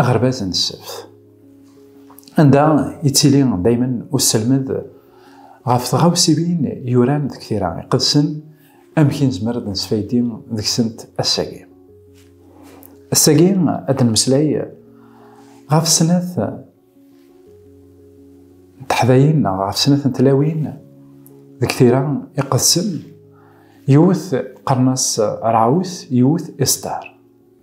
Aɣerbaz n ssebt, anda yettili daymen uselmed ɣef tɣawsiwin yuran deg tira iqedsen, amek i nezmer ad nesfaydi deg-sent ass-agi. Ass-agi ad nmeslay ɣef snat n teḥdayin neɣ ɣef snat n tlawin deg tira iqedsen, yiwet qqaren-as Raout, yiwet Istar.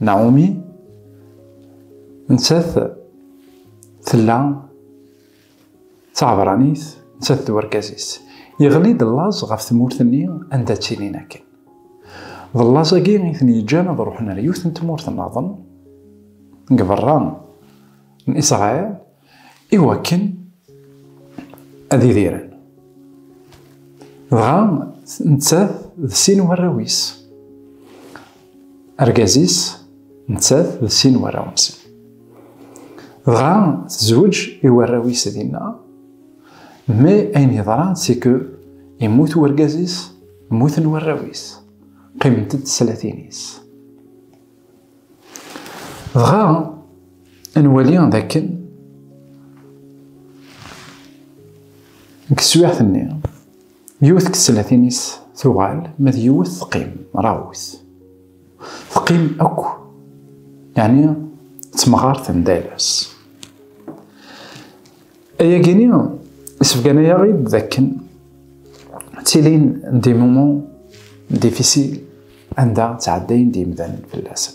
Naomi nettat tella d taɛebranit nettat d urgaz-is. Yeɣli-d llaẓ ɣef tmurt-nni anda ttilin akken. D llaẓ-agi i ten-yeǧǧan ad ruḥen ar yiwet n tmurt-nnaḍen deg berra n Isṛail. iwakken ad idiren. Dɣa nettat d sin warraw-is. Argaz-is nettat d sin warraw-nsen. Dɣa tezweǧ i warraw-is dinna, mi ayen yeḍran siku yemmut urgaz-is, mmuten warraw-is, qqiment-d tlatin-is. Dɣa ad nwali d akken deg teswiɛt-nni yiwet deg tsellatin-is tuɣal ma d yiwet teqqim rawet teqqim akk yeɛni ttemɣart n dayla-s Ayagi-ni isebgan-ayaɣ-id d akken ttilin di mumu difisil anda ttɛeddayen d yimdanen fell-asen.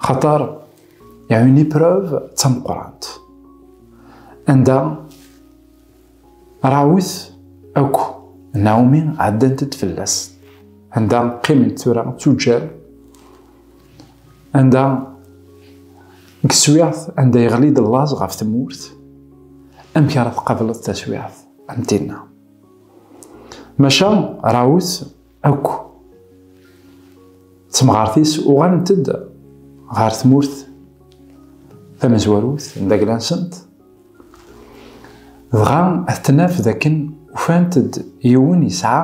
Xaṭer yaɛu ni prov d tameqqrant anda Rawit akk Naomi ɛeddant-d fell-as anda qqiment tura d tuǧǧal Anda deg teswiɛt anda yeɣli-d llaẓ ɣef tmurt, amek ara tqableḍ taswiɛt am tinna? Maca Rawut akk temɣart-is uɣalent-d ɣer tmurt tamezwarut n dagla-nsent, dɣa ad tnaf d akken ufant-d yiwen yesɛa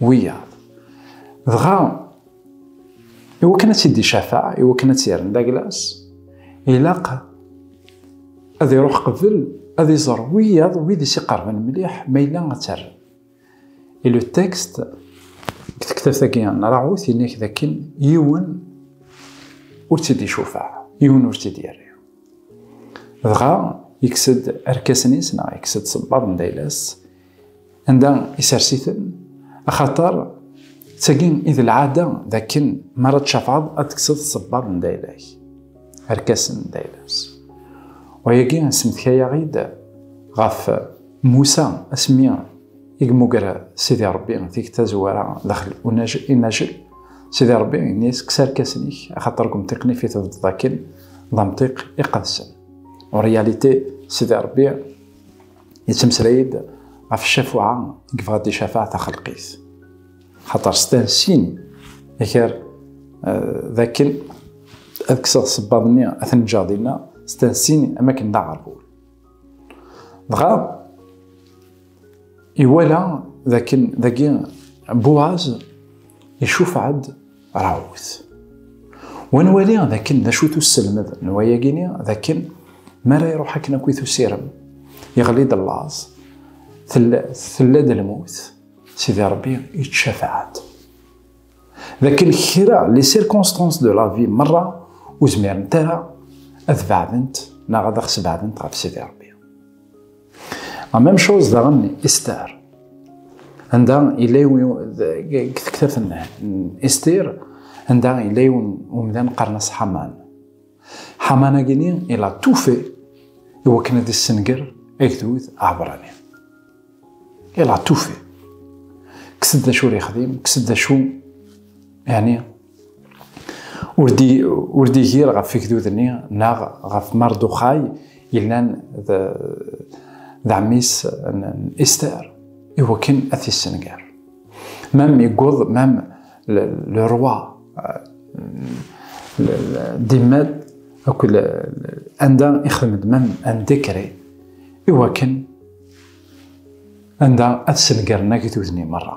wiyaḍ. Dɣa, iwakken ad tt-id-icafaɛ, iwakken ad tt-yerren d aglas, ilaq ad iruḥ qbel ad iẓer wiyaḍ wid i s-iqerben mliḥ ma yella ad tt-rren. Et le texte deg tektabt-agi n Raoult yenna-k d akken yiwen ur tt-id-icufaɛ, yiwen ur tt-id-yerri. Dɣa, yekkes-d arkasen-is neɣ yekkes-d sebbaḍ n d ayla-s, anda isers-iten axaṭer d tagi i d lɛada d akken mi ara tcafɛeḍ ad tekseḍ sebbaḍ n dayla-k arkasen n dayla-s wayagi semtkayaɣ-id ɣef Musa asmi i yemmuger Sidi Ṛebbi tikti tazwara daxel inajel Sidi Ṛebbi ini-as kkes arkasen-ik axaṭer deg umtiq-nnek i tebdeḍ akken d amtiq iqedsen en réalité Sidi Ṛebbi Yettmeslay-d ɣef ccafuɛa i yebɣa ad d-icafaɛ taxelqit, xaṭer stan sin akar d akken ad kkseɣ sebbaḍ-nni ad ten-ǧǧeɣ dinna, stan sin am akken d aɣerbul. Dɣa iwala d akken dagi Buaz icufaɛ-d rawt. Wa nwali d akken d acu-t usselmed n wayagi-ni, d akken mi ara iruḥ akken akk i tusirem, yeɣli-d llaẓ, tella-d lmut, Sidi Rebbi ittcafaɛ-d. D akken kra, les circonstances de la vie merra ur zmirent ara ad beɛdent neɣ ad aɣ-sbeɛdent ɣef Sidi Rebbi. La même chose daɣen Esther. Anda yella deg tektabt n Esther, anda yella yiwen umdan qqaren-as Haman. Haman-agini ila tufi i wakken ad yessenger agdud aɛbrani. Ila tufi. Kkes-d d acu ur yexdim, kkes-d d acu yani ur d-igir ɣef igdud-nni neɣ ɣef Marduxay yellan d ɛemmi-s n Ister i wakken ad t-issenger. Mem yewweḍ mem le roi d-immal akk anda ixdem-d mem un décret i wakken anda ad sengren agdud-nni merra.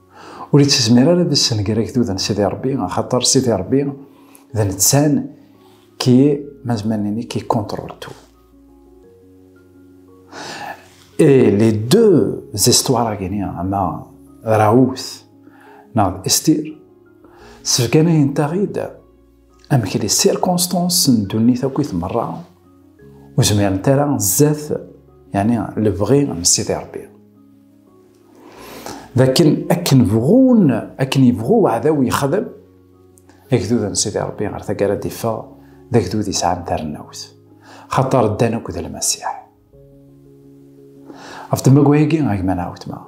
Ur ittezmir ara ad issenger agdud n Sidi Rebbi, axaṭer Sidi Rebbi d nettan ki mazmanini ki contrôle tout. Et les deux histoires à gagner, ama Raoult neɣ Estir, sefganayen-taɣ-id amek les circonstances n ddunit akkit merra ur zmirent ara zdat yani lebɣi n Sidi Rebbi. d akken akken bɣun akken yebɣu weɛdaw yexdem agdud n Sidi Rebbi ɣer taggara d-iffeɣ d agdud yesɛan tarennawt xaṭer ddan akk d lmasiḥ ɣef tmagwa-agi a gma neɣ wetma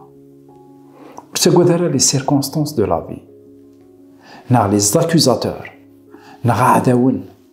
ur ttagad ara les circonstances de la vie neɣ les accusateurs neɣ aɛdawen